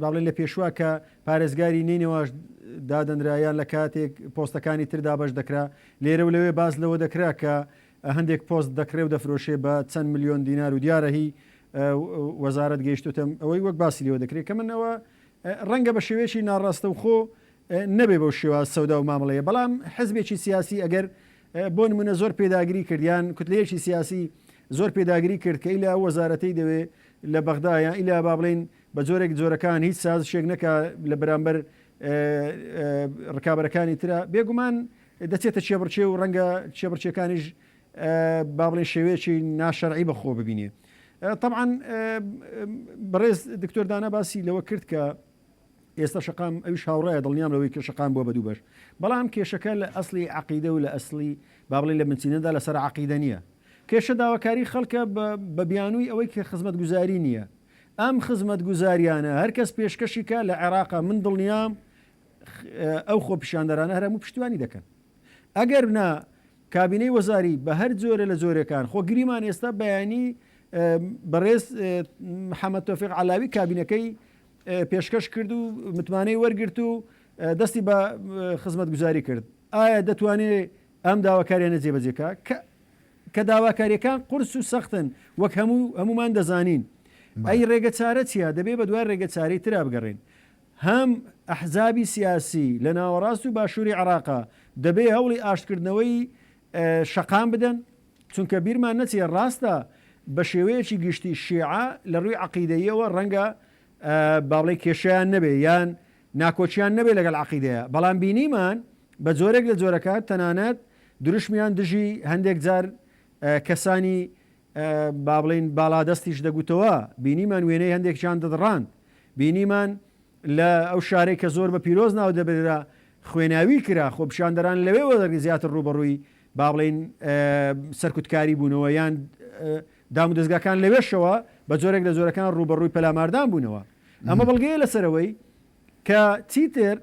بەڵێ لە پێشوە کە پارێزگاری نەینەواش دادەنرا یان لە کاتێک پۆستەکانی تر دابش دەکرا لێرە و لەوێ باز لەوە دەکرا کە هەندێک پۆست دەکرێ و دەفرۆشێ بە چەند میلیۆن دینار و دیارە هی وەزارت گەیشتوتم ئەوەی وەک باسی لەوە دەکرێت کە منەوە ڕەنگە بە شێوەیەکی ناڕاستە و خۆ نەبێ بەو شێوە سەودا و مامڵەیە بەڵام حزبێکی سیاسی ئەگەر بۆ نمونە زۆر پێداگری کردیان کوتلەیەکی سیاسی زۆر پێداگری کرد کە ئیلا ئەو وەزارەتەی دەوێ لە بەغدا یان ئیلا با بڵێین بە جۆرێک جۆرەکان هیچ سازشێک نەکا لە بەرامبەر ڕکابەرەکانی ترا بێگومان دەچێتە کێبڕکێ و ڕەنگە کێبڕکێکانیش با بڵێن شێوەیەکی ناشەرعی بەخۆ ببینێ طبعا بەڕێز دکتۆر دانا باسی لەوە کرد کە ئێستا شەقام ئەویش هاوڕایە دڵنیام لەوەی کە شەقام بووە بە دوو بەش بەڵام کێشەکە لە ئەسلی عەقیدە و لە ئەسلی با بڵێین لە بنچینەدا لەسەر عەقیدە نییە کێشە داواکاری خەڵکە بە بیانووی ئەوەی کە خزمەتگوزاری نییە ئەم خزمەتگوزاریانە هەر کەس پێشکەشی کە لە عێراقا من دڵنیام ئەو خۆپیشاندەرانە هەرم و پشتیوانی دەکەن ئەگەر بنا کابینەی وەزاری بە هەر جۆرە لە جۆرەکان خۆ گریمان ئێستا بەیانی بەڕێز محەممەد تۆفیق علاوی کابینەکەی پێشکەش کرد و متمانەی وەرگرت و دەستی بە خزمەتگوزاری کرد ئایا دەتوانێت ئەم داواکاریانە جێبەجێکا کە کە داواکاریەکان قورس و سەختن وەک هەموو هەمومان دەزانین ئەی ڕێگە چارە چیە دەبێ بە دوای ڕێگە چارەی ترا بگەڕین هەم ئەحزابی سیاسی لە ناوەڕاست و باشووری عراقا دەبێ هەوڵی ئاشتکردنەوەی شەقام بدەن چونکە بیرمان نەچێ ڕاستە بە شێوەیەکی گشتی شیعە لە ڕووی عەقیدەییەوە ڕەنگە با بڵێین کێشەیان نەبێ یان ناکۆکیان نەبێ لەگەڵ عەقیدەیا بەڵام بینیمان بە جۆرێک لە جۆرەکان تەنانەت دروشمیان دژی هەندێک جار کەسانی با بڵێین باڵادەستیش دەگوتەوە بینیمان وێنەی هەندێکیان دەدڕاند بینیمان لە ئەو شارەی کە زۆر بە پیرۆز ناو دەبررا خوێناوی کرا، خۆپیشاندەران لەوێوە زیاتر ڕووبەڕووی با بڵێین سەرکوتکاری بوونەوە یان دامودەزگاکان لەوێشەوە بە جۆرێک لە جۆرەکان ڕووبەڕووی پەلاماردان بوونەوە ئەمە بەڵگەیە لەسەرەوەی کە چیتر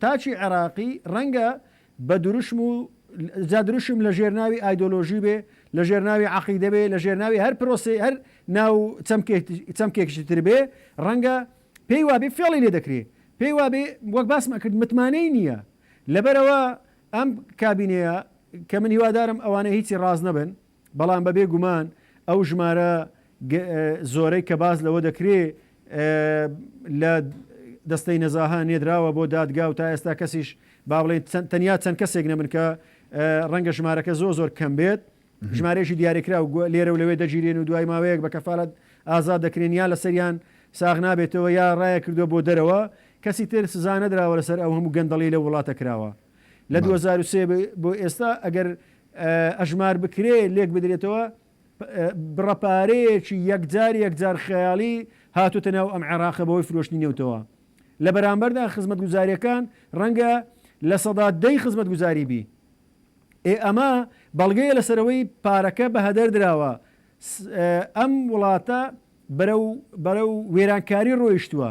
تاچی عێراقی ڕەنگە بە دروشم و جا دروشم لە ژێرناوی ئایدۆلۆژی بێ لە ژێرناوی عقیدە بێ لە ژێرناوی هەر پرۆسی هەر ناو چەمکێکشی تر بێ ڕەنگە پێی وابێ فێڵی لێ دەکرێ، پێی وابێ وەک باسم ئەکرد متمانەی نییە، لەبەرئەوە ئەم کابینەیە کە من هیوادارم ئەوانە هیچی ڕاست نەبن، بەڵام بەبێ گومان ئەو ژمارە زۆرەی کە باس لەوە دەکرێ لە دەستەی نەزاهە نێدراوە بۆ دادگا و تا ئێستا کەسیش با بڵێین تەنیا چەند کەسێک نەبن کە ڕەنگە ژمارەکە زۆر زۆر کەم بێت، ژمارەیەکی دیاریکراو گوە لێرە و لەوێ دەگیرێن و دوای ماوەیەک بە کەفالەت ئازاد دەکرێن یا لەسەریان ساغ نابێتەوە یا رایە کردوە بۆ دەرەوە، کەسی تر سزا نەدراوە لەسەر ئەو هەموو گەندەڵی لەو وڵاتە کراوە لە دوو هەزار و سێ بۆ ئێستا ئەگەر ئەژمار بکرێ لێک بدرێتەوە بڕە پارەیەکی یەکجار یەکجار خەیاڵی هاتوتە ناو ئەم عێراقە بەوەی فرۆشتنی نەوتەوە لە بەرامبەردا خزمەتگوزاریەکان رەنگە لە سەدا دەی خزمەتگوزاری بی. ئێ ئەمە بەڵگەیە لەسەرەوەی پارەکە بەهەدەر دراوە ئەم وڵاتە بەرەو بەرەو وێرانکاری ڕۆیشتووە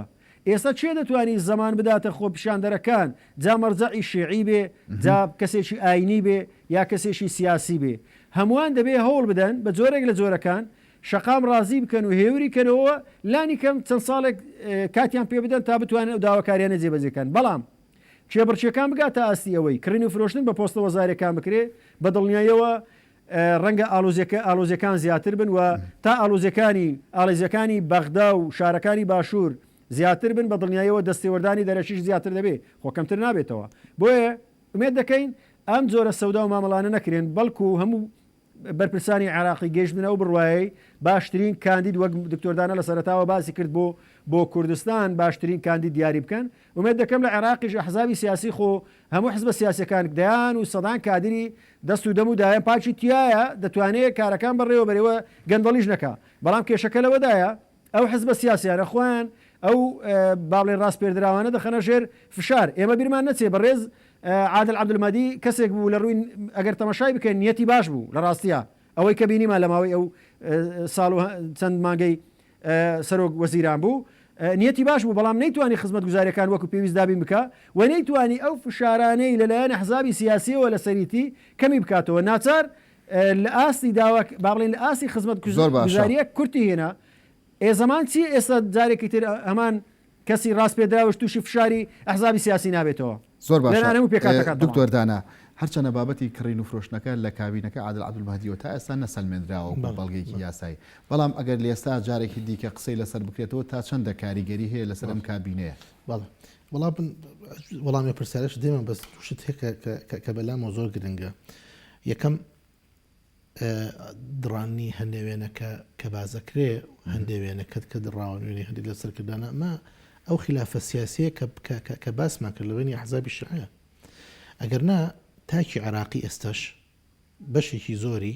ئێستا چێ دەتوانی زەمان بداتە خۆپیشاندەرەکان جا مەرجەعی شێعی بێ جا کەسێکی ئاینی بێ یا کەسێکی سیاسی بێ هەمووان دەبێ هەوڵ بدەن بە جۆرێک لە جۆرەکان شەقام ڕازی بکەن و هێوری کەنەوە لانی کەم چەند ساڵێک کاتیان پێ بدەن تا بتوانن ئەو داواکاریانە جێبەجێکەن بەڵام کێبڕکێکان بگاتە ئاستی ئەوەی کڕین و فرۆشتن بە پۆستە وەزاریەکان بکرێت، بە دڵنیایەوە ڕەنگە ئاڵۆزیەکان زیاتر بن و تا ئاڵۆزیەکانی ئاڵێزیەکانی بەغدا و شارەکانی باشور زیاتر بن بە دڵنیایەوە دەستێوەردانی دەرەکیش زیاتر دەبێت خۆ کەمتر نابێتەوە بۆیە ئومێد دەکەین ئەم جۆرە سەودا و مامەڵانە نەکرێن بەڵکو هەموو بەرپرسانی عێراقی گەیشتبنە ئەو بڕوایەی باشترین کاندید وەک دکتۆر دانە لە سەرەتاوە باسی کرد بۆ بۆ کوردستان باشترین کاندید دیاری بکەن ومێت دەکەم لە عێراقیش ئەحزابی سیاسی خۆ هەموو حزبە سیاسەکان دەیان و سەدان کادری دەست و دەم و دایە پاکی تایە دەتوانێت کارەکان بەڕێوە بەرەوە گەندەڵیش نەکا بەڵام کێشەکە لەوەدایە ئەو حزبە سیاسیانە خۆیان ئەو بابڵێین ڕاسپێردراوانە دەخەنە ژێر فشار، ئێمە بیرمان نەچێ بەڕێز عادل عەبدولمەدی کەسێک بوو لە ڕووی ئەگەر تەمەشای بکەین نیەتی باش بوو لە ڕاستیا ئەوەی کە بینیمان لە ماوەی ئەو ساڵ و چەند مانگەی سەرۆک وەزیران بوو نیەتی باش بوو بەڵام نەیتوانی خزمەت گوزارەکان وەکو پێویست دابین بکە و نەیتوانی ئەو فشارانەی لەلایەن حزابی سیاسیەوە لە سەریتی کەمی بکاتەوە ناچار لە ئاستی داوا با بڵێین لە ئاستی خزمەت گوزاریە کورتی هێنا ئێ زەمان چی ئێستا جارێکی تر هەمان کەسی ڕاست پێدراوش تووشی فشاری ئەحزابی سیاسی نابێتەوە زۆر باشانە و پێکاتەکان دکتۆردانە هەرچەنە بابەتی کڕین و فرۆشتنەکە لە کابینەکە عادل عبدالمهدیەوە تا ئێستا نەسەلمێنراوە بە بەڵگێکی یاسایی بەڵام ئەگەر لێستا جارێکی دیکە قسەی لەسەر بکرێتەوە تا چەندە کاریگەری هەیە لەسەر ئەم کابینەیە بەڵ وڵام وەڵامی پرسیارش دێمە بەس شت هەیە کە بەلامەوە زۆر گرنگە یەکەم، دڕانی هەندێ وێنەکە کە بازەکرێ، هەندێ وێنەکەت کە دڕاوە نوێنەی هەندێک لە سەرکردانە، ئەمە ئەو خلافە سیاسیە کە باسمان کرد لە بینی حزابی شعە ئەگەر نا تاکی عراقی ئێستش بەشێکی زۆری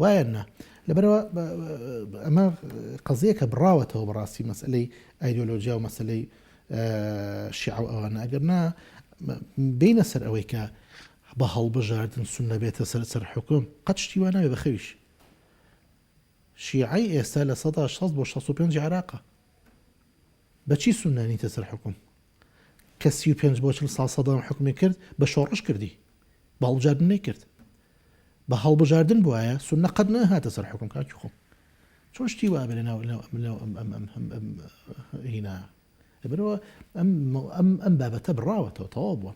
وایان نا لەبەرئەوە ئەمە قەزیەکە بڕاوەتەوە بەڕاستی مەسئلەی ئایدۆلۆجیا و مەسلەی شیعە و ئەوانە ئەگەر نا بینە سەر ئەوەی کە بە هەڵبژاردن سون نەبێتە سەر سەر حکوم قەت شتی وا ناوێ بەخەویش شیعی ئێستا لە سەدا 16 بۆ 65 عراقە بەچی سونانیتە سەر حکوم کە سی و پێنج بۆ چل ساڵ سەدام حوکمی کرد بە شۆڕش کردی بە هەڵبژاردن نەیکرد بە هەڵبژاردن بوایە سوننە قەت نەهاتە سەر حوکم کاکی خۆم چۆن شتی وا بێ لەناو لەناو لەناو ئەم ئەم ئەم ئەم ئەم هینا لەبەرەوە ئەم ئەم ئەم بابەتە بڕاوەتەوە تەواو بووە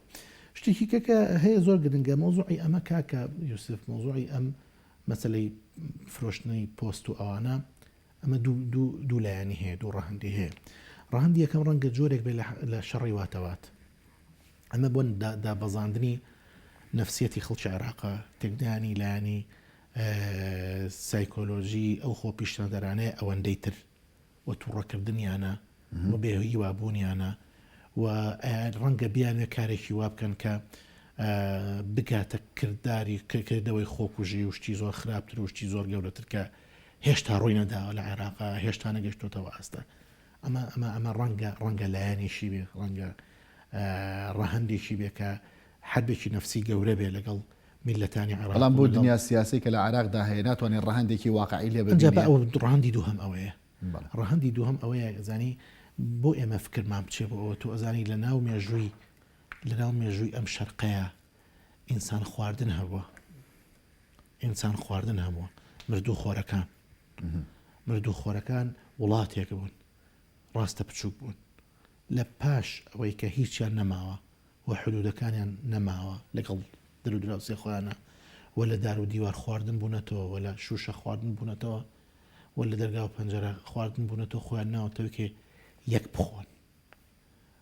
شتێکی کەکە هەیە زۆر گرنگە مۆزوعی ئەمە کاکە یوسف مۆزوعی ئەم مەسلەی فرۆشتنی پۆست و ئەوانە ئەمە دوو لایەنی هەیە، دوو ڕەهەندی هەیە. ڕەهەندی یەکەم ڕەنگە جۆرێک بێ لە شەڕی واتەوات. ئەمە بۆن دابەزاندنی نەفسیەتی خەڵکی عێراقە تێکدانی لایانی سایکۆلۆژی ئەو خۆ پیشتەدەرانەیە ئەوەندەی تر و توڕەکردنیانە و بێ هیوابوونیانە و ڕەنگە بیانێ کارێکی وا بکەن کە بگاتە کردداری کردەوەی خۆکوژی وشتی زۆر خراپتر وشتی زۆر گەورەتر کە هێشتا ڕووی نەداوە لە عێراق هێشتا نەگەشتۆتەوە ئاستە ئەمە ئەمە ئەمە ڕەنگە ڕەنگە لایەنێکی بێ ڕەنگە ڕەهندێکی بێ کە حەبێکی نفسی گەورە بێ لەگەڵ میلەتانی عراڵام بۆ دنیا سیاسی کە لە عراقدا هەیە ناتوانێت ڕەهندێکی واقعی لێ ڕاندی دوو هەم ئەوەیە ڕەهندی دوو هەم ئەوەیە زانی بۆ ئێمە فکرمان بچێ بۆ ئەوە تۆ ئەزانی لە ناو مێژووی لە ناو مێژووی ئەم شەرقەیە ئینسان خواردن هەبووە ئینسان خواردن هەبووە مردوو خۆرەکان مردوو خۆرەکان وڵاتێک بوون ڕاستە بچووک بوون لە پاش ئەوەی کە هیچیان نەماوە و حدودەکانیان نەماوە لەگەڵ درو دراوسێ خۆیانە و لە دار و دیوار خواردن بوونەتەوە و لە شوشە خواردن بوونەتەوە و لە دەرگا و پەنجەرە خواردن بوونەتەوە خۆیان ناوەتەوەکێ یەک بخۆن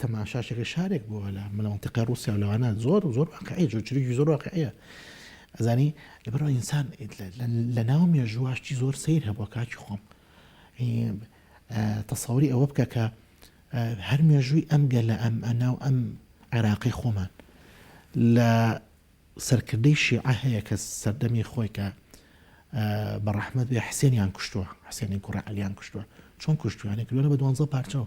تەماشاشەکە شارێک بووە لە مەنتیقەی ڕووسیا و لەوانە زۆر زۆر واقعی زۆر چروکی زۆر واقعیە ئەزانی لەبەرەوە ئینسان لە ناو مێژوواشتی زۆر سیر هەبووە کاکی خۆم تەسەوری ئەوە بکە کە هەر مێژووی ئەم گەلە ئەم ئەنا و ئەم عێراقی خۆمان لە سەرکردەی شیعە هەیە کە سەردەمی خۆی کە بە ڕەحمەت بێ حسێنیان کوشتووە حسێنی کوڕە علیان کوشتووە چۆن کوشتوانێک کردوە بە دوانزە پارچەوە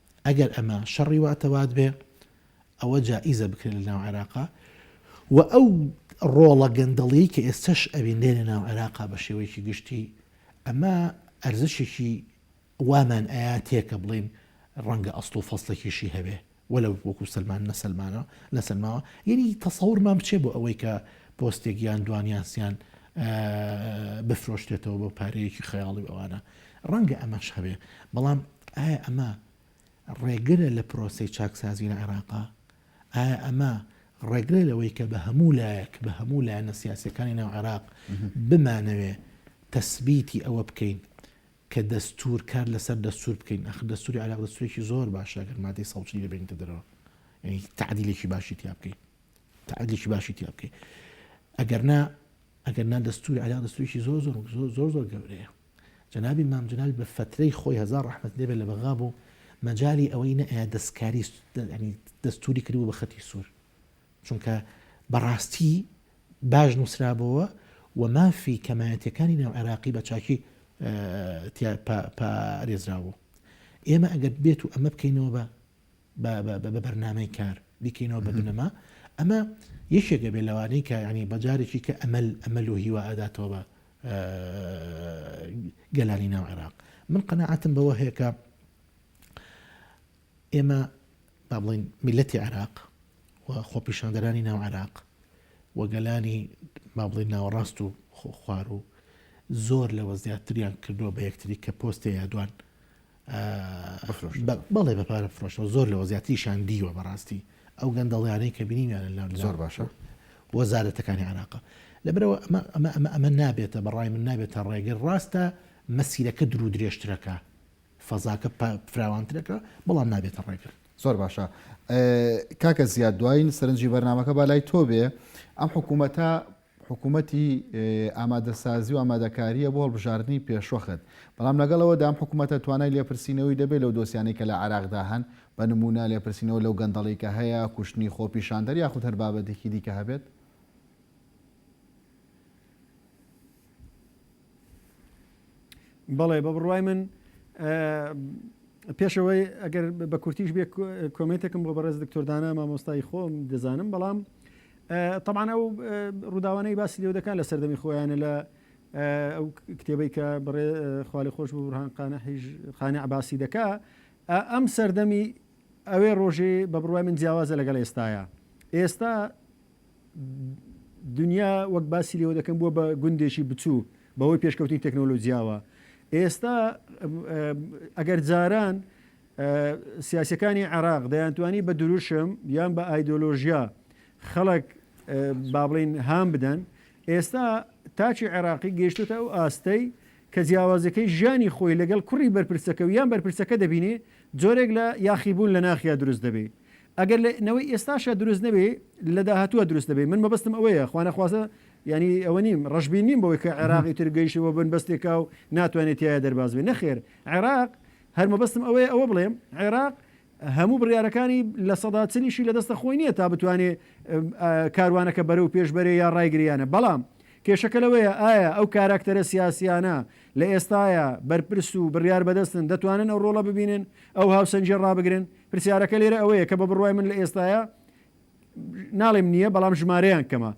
ئەگەر ئەمە شەڕی واتەوات بێ ئەوە جائیزە بکرێت لە ناو عێراقا و ئەو ڕۆڵە گەندەڵیەی کە ئێستەش ئەوین لێ لە ناو عێراقا بە شێوەیەکی گشتی ئەمە ئەرزشێکی وامان ئایا تێکە بڵین ڕەنگە ئەسڵ و فەسلەکیشی هەبێ وەلە وەکو سلمان نەسلمانە نەسلماوە یعنی تەسەورمان بچێ بۆ ئەوەی کە پۆستێکیان دوانیاسیان بفرۆشتێتەوە بۆ پارەیەکی خەیاڵی ئەوانە ڕەنگە ئەمەش هەبێ، بەڵام ئایا ئەمە ڕێگرە لە پرۆسەی چاکسازی لە عێراق؟ ئایا ئەمە ڕێگرە لەوەی کە بە هەموو لایەک، بە هەموو لایەنە سیاسییەکانی ناو عێراق بمانەوێ تەسبیتی ئەوە بکەین کە دەستوور، کار لەسەر دەستوور بکەین؟ ئاخر دەستووری عێراق دەستوورێکی زۆر باشە، ئەگەر مادەی سەد و چل ببەینەتە دەرەوە، یانی تەعدیلێکی باشی تیا بکەی، تەعدیلێکی باشی تیا بکەی، ئەگەر نا، ئەگەر نا دەستوری عێراق دەستورێکی زۆر زۆر زۆر زۆر گەورەیە. جەنابی مام جەلال بە فەترەی خۆی هەزار ڕەحمەتی لێ بێت لە بەغا بوو مەجالی ئەوەی نەئەیا دەستکاری یانی دەستوری کردبوو بە خەتی سوور. چونکە بە ڕاستی باش نووسرابۆوە و مافی کەمایەتیەکانی ناو عێراقی بە چاکی تیا پا پا رێزرا بوو. ئێمە ئەگەر بێت و ئەمە بکەینەوە بە بە بەرنامەی کار بیکەینەوە بە بنەما ئەمە یەکێکە بێ لەوانەی کە ینی بەجارێکی کە ئەمەل ئەمەل و هیوا ئەداتەوە بە گەلانی ناو عێراق من قەنەعاتم بەوە هەیەکە ئێمە با بڵین میلەتی عێراق و خۆپیشاندەرانی ناو عێراق و گەلانی با بڵین ناوەڕاست و خۆخوار و زۆر لەوە زیاتریان کردووە بە یەکتری کە پۆستێ یادوان بەڵێ بە پارە فرۆشەوە زۆر لەوە زیاتریشان دیوە بەڕاستی ئەو گەندەڵیانەی کە بینیمیانە لە زۆر باشە وەزارەتەکانی عراقە لەبرەوە ئەمە ئەمە ئەمە ئەمە نابێتە بەڕای من نابێتە ڕێگە ڕاستە مەسیرەکە درو درێژترەکە فەزاکە فراوانترەکە بەڵام نابێتە ڕێگر زۆر باشە کاکە زیاد دوایین سەرنجی بەرنمەکە با لای تۆ بێ ئەم حکوومەتە حکومەتی ئامادەسازی و ئامادەکارییە بۆ هەڵبژاردنی پێشوەخت، بەڵام لەگەڵ ئەوەدا ئەم حکومەتە توانای لێپرسینەوەی دەبێت لەو دۆسیانەی کە لە عێراقدا هەن، بە نموونە لێپرسینەوە لەو گەندەڵی کە هەیە، کوشتنی خۆپیشاندەر یاخود هەر بابەتێکی دیکە هەبێت؟ بەڵێ بە بڕوای من پێشەوەی ئەگەر بە کورتیش بێ کۆمێتێکم بۆ بەڕێز دکتۆردانە مامۆستای خۆم دەزانم بەڵام طبعاان ئەو ڕووداوانەی باسی لێو دەکات لە سەردەمی خۆیانە لە ئەو کتێبەی کە بڕێ خالی خۆش بۆ بڕان قانە حیژ خانە عباسی دەکا ئەم سەردەمی ئەوێ ڕۆژێ بە بڕای من جیاوازە لەگەڵ ئێستاە ئێستا دنیا وەک باسی لێوە دەکەم بووە بە گوندێکی بچوو بەهۆی پێشکەوتنی تەکنۆلۆجیاوە ئێستا ئەگەر جاران سیاسەکانی عراق دەیانتوانی بە دروشم یان بە ئایدۆلۆژیا خەڵک با بڵین هام بدەن ئێستا تاچی عێراقی گەشتوتە ئەو ئاستەی کە جیاوازەکەی ژیانی خۆی لەگەڵ کوڕی بەرپرسەکە و یان بەرپرسەکە دەبینێ جۆرێک لە یاخیبوون لە ناخیا دروست دەبێت ئەگەر لە نەوەی ئێستاشا دروست نەبێ لە داهاتووە دروست دەبێ من مەبەستم ئەوەیە خوانەخوازە یانی ئەوە نیم ڕەشبین نیم بەوەی کە عێراق ئیتر گەیشتە بۆ بنبەستێکا و ناتوانێت تایە دەرباز بێ نەخێر عێراق هەر مەبەستم ئەوەیە ئەوە بڵێم عێراق هەموو بڕیارەکانی لە سەدا چلیشی لە دەستە خۆی نییە تا بتوانێ کاروانەکە بەرە و پێشبەرێ یا ڕایگریانە بەڵام کێشەکە لەوەیە ئایا ئەو کاراکتەرە سیاسیانە لە ئێستاە بەرپرس و بڕیار بەدەستن دەتوانن ئەو ڕۆڵە ببینن ئەو هاوسەنجێ ڕابگرن پرسیارەکە لێرە ئەوەیە کە بە بڕوای من لە ئێستایا ناڵێم نییە بەڵام ژمارەیان کەمە.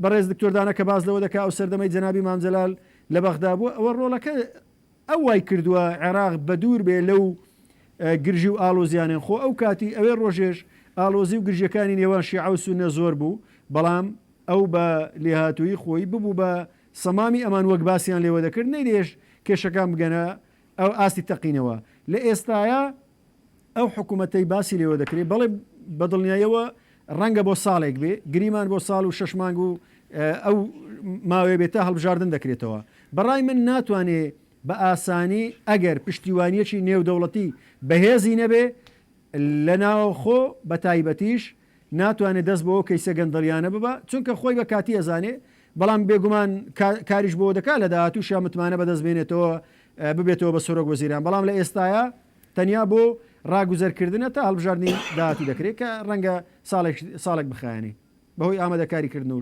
بەڕێز دکتۆر دانا کە باس لەوە دەکا ئەو سەردەمەی جەنابی مام جەلال لە بەغدا بووە ئەوە ڕۆڵەکە ئەو وای کردووە عێراق بەدوور بێ لەو گرژی و ئاڵۆزیانێن خۆ ئەو کاتی ئەوێ ڕۆژێش ئاڵۆزی و گرژیەکانی نێوان شیعە و سوننە زۆر بوو بەڵام ئەو بە لێهاتوویی خۆی ببوو بە سەمامی ئەمان وەک باسیان لێوە دەکرد نەیدەیەشت کێشەکان بگەنە ئەو ئاستی تەقینەوە لە ئێستایا ئەو حکومەتەی باسی لێوە دەکرێت بەڵێ بەدڵنیایەوە ڕەنگە بۆ ساڵێک بێ گریمان بۆ ساڵ و شەش مانگ و ئەو ماوەیە بێت تا هەڵبژاردن دەکرێتەوە بەڕای من ناتوانێ بە ئاسانی ئەگەر پشتیوانیەکی نێودەوڵەتی بەهێزی نەبێ لە ناوەخۆ بە تایبەتیش ناتوانێ دەست بەو کەیسە گەندەڵیانە ببا چونکە خۆی بە کاتی ئەزانێ بەڵام بێگومان کاریش بۆ دەکا لە داهاتووشا متمانە بەدەست بێنێتەوە ببێتەوە بە سەرۆک وەزیران بەڵام لە ئێستایا تەنیا بۆ ڕاگوزەرکردنە تا هەڵبژاردنی داهاتوو دەکرێ کە ڕەنگە ساڵێک ساڵێک بخایەنێ بەهۆی ئامادەکاری کردن و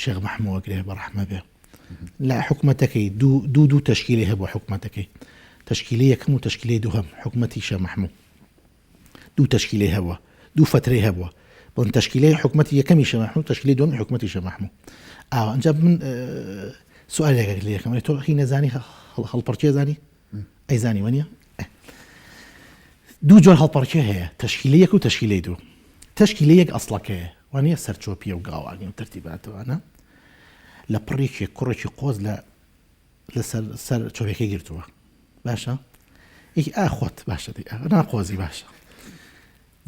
شێخ مەحموو ئەگرێ بە ڕەحمە بێ لە حکوومەتەکەی دوو دوو دوو تەشکیلی هەبوو حکوومەتەکەی تەشکیلی یەکەم و تەشکیلی دووهم حکوومەتی شە مەحموو دوو تەشکیلی هەبووە دوو فترەی هەبووە بۆن تەشکیلی حکوومەتی یەکەمی شە مەحموو تەشکیلی دوم حکوومەتی شە مەحموو ئاوە ئەجا من سوالێک لە یەکەم تۆ هی نەزانی هەڵپەرچێزانی ئەی زانی وەنیە؟ دوو جۆر هەڵپەڕکێ هەیە، تەشکیلەی یەک و تەشکیلەی دوو. تەشکیلەی یەک ئەسڵەکەیە، وانیە سەرچۆپییە و گاوانیە و تەرتیباتە وانە؟ لە پڕێکی کوڕێکی قۆز لە لەسەر سەر چۆرەکەی گرتووە باشە؟ یەکی ئا خۆت باشە دی نا قۆزی باشە.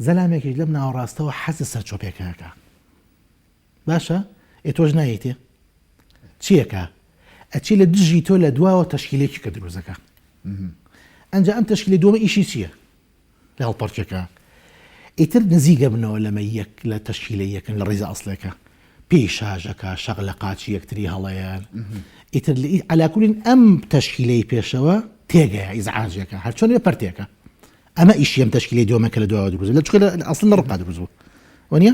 زەلامێکی لەم ناوەڕاستەوە حەزە سەر چۆپێکەکە. باشە ئێ تۆش نایەیتێ چیەکە ئەچی لە دژی تۆ لە دواوە تەشکیلێکی کە دروزەکە ئەجا ئەم تەشکیلی دووە ئیشی چییە لە هەڵپەرچەکە ئیتر نزیگە بنەوە لەمە یەک لە تەشکیلە یەکن لە ڕێزە ئەسلەکە پێی شاژەکە شەق لە قاچی یەکتری هەڵەیان ئیتر لە علاکولین ئەم تەشکیلەی پێشەوە تێگەیە ئیزعاجەکە هەرچۆن لە پرتێکە ئەمە ئیشیم تەشکیلی دۆمەکە لە دواوە دروز لە چکە لە ئەسل لە ڕقا دروزبوو وە نیە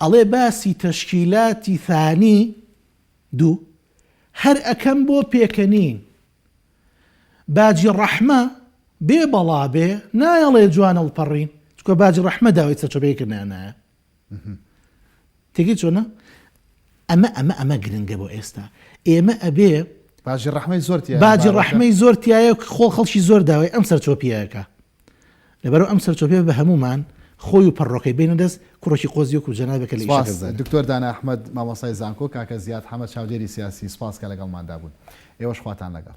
ئەڵێ باسی تەشکیلاتی ثانی دوو هەر ئەکەم بۆ پێکەنین باجی ڕەحمە بێ بەڵا بێ نایەڵێ جوان ئەڵپەڕین چکۆ باجی ڕەحمە داوای سەرچەپەی کردنایە تێگەی چۆنە ئەمە ئەمە ئەمە گرنگە بۆ ئێستا ئێمە ئەبێ باجی ڕحمەی زۆر باجی ڕحمەی زۆر تایە خۆ خەڵکی زۆر داوای ئەم سەر چۆپیەکە لەبەرئەو ئەم سەرچۆپێ بە هەموومان خۆی و پەڕۆکەی بەینە دەست کوڕێکی قۆزی وەکو جەنابێک کە لە ئیشەکە سپاس زانە. دکتۆر دانا احمد مامۆستای زانکۆ کاکە زیاد حەمە چاودێری سیاسی سپاس کە لەگەڵماندا بوون ئێوەش خواتان لەگەڵ.